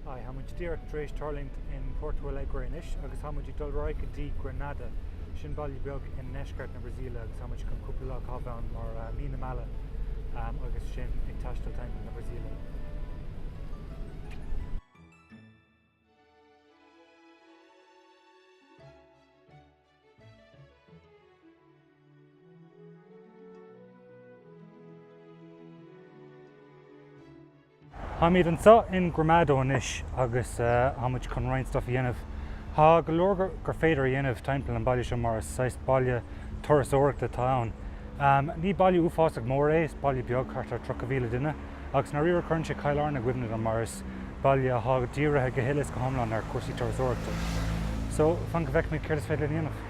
Hi, tá muid díreach tar éis tuirlingt in Porto Alegre anois agus tá muid ag dul ar aghaidh go dtí Gramado. Sin baile beag i ndeisceart na Brasaíle agus tá muid chun cúpla lá a chaitheamh ann mar mí na meala agus sinn ag taisteal timpeall na Brasaíle. Táimid anseo in Gramado anois agus tá muid chun roinnt stuff a dhéanamh. Tá go leor gur féidir a dhéanamh timpeall an baile seo mar is saghas baile turasóireachta atá ann. Ní baile uafásach mór é, is baile beag, thart ar 30,000 duine. Agus dáiríre cuireann sé Cill Airne i gcuimhne dom mar is baile athá dírithe go huile is go hiomlán ar chúrsaí turasóireachta. So, fan go bhfeicfimid céard is féidir linn a dhéanamh.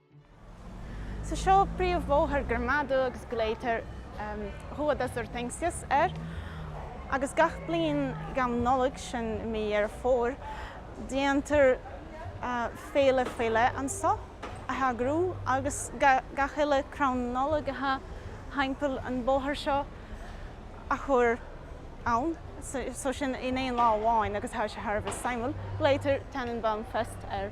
So seo príomhbhóthar Gramado agus glaoitear Rua das Hortênsias air agus gach bliain roimh Nollaig, sin i mí Dheireadh Fómhair, déantar féile faoi leith anso a eagrú agus gach uile crann Nollag atá thimpeall an bóthar seo a chur ann, so sin in aon lá amháin agus tá sé thar a bheith suimiúil. Glaoitear Tannenbaumfest air.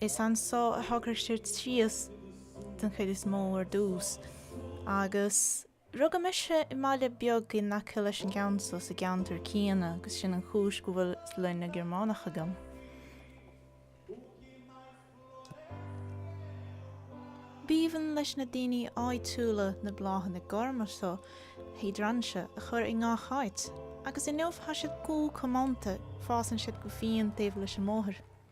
Is anso a shocraigh siad síos den chuid is mó ar dtús agus rugadh mise i mbaile beag in aice leis an gceann so sa gceantar céanna agus sin an chúis go bhfuil sloinne Gearmánach agam. B'aoibhinn leis na daoine áitiúla na bláthanna gorma so, hiodrainsia, a chur i ngach áit agus inniu tá siad go comónta, fásann siad go fiáin taobh leis an mbóthar.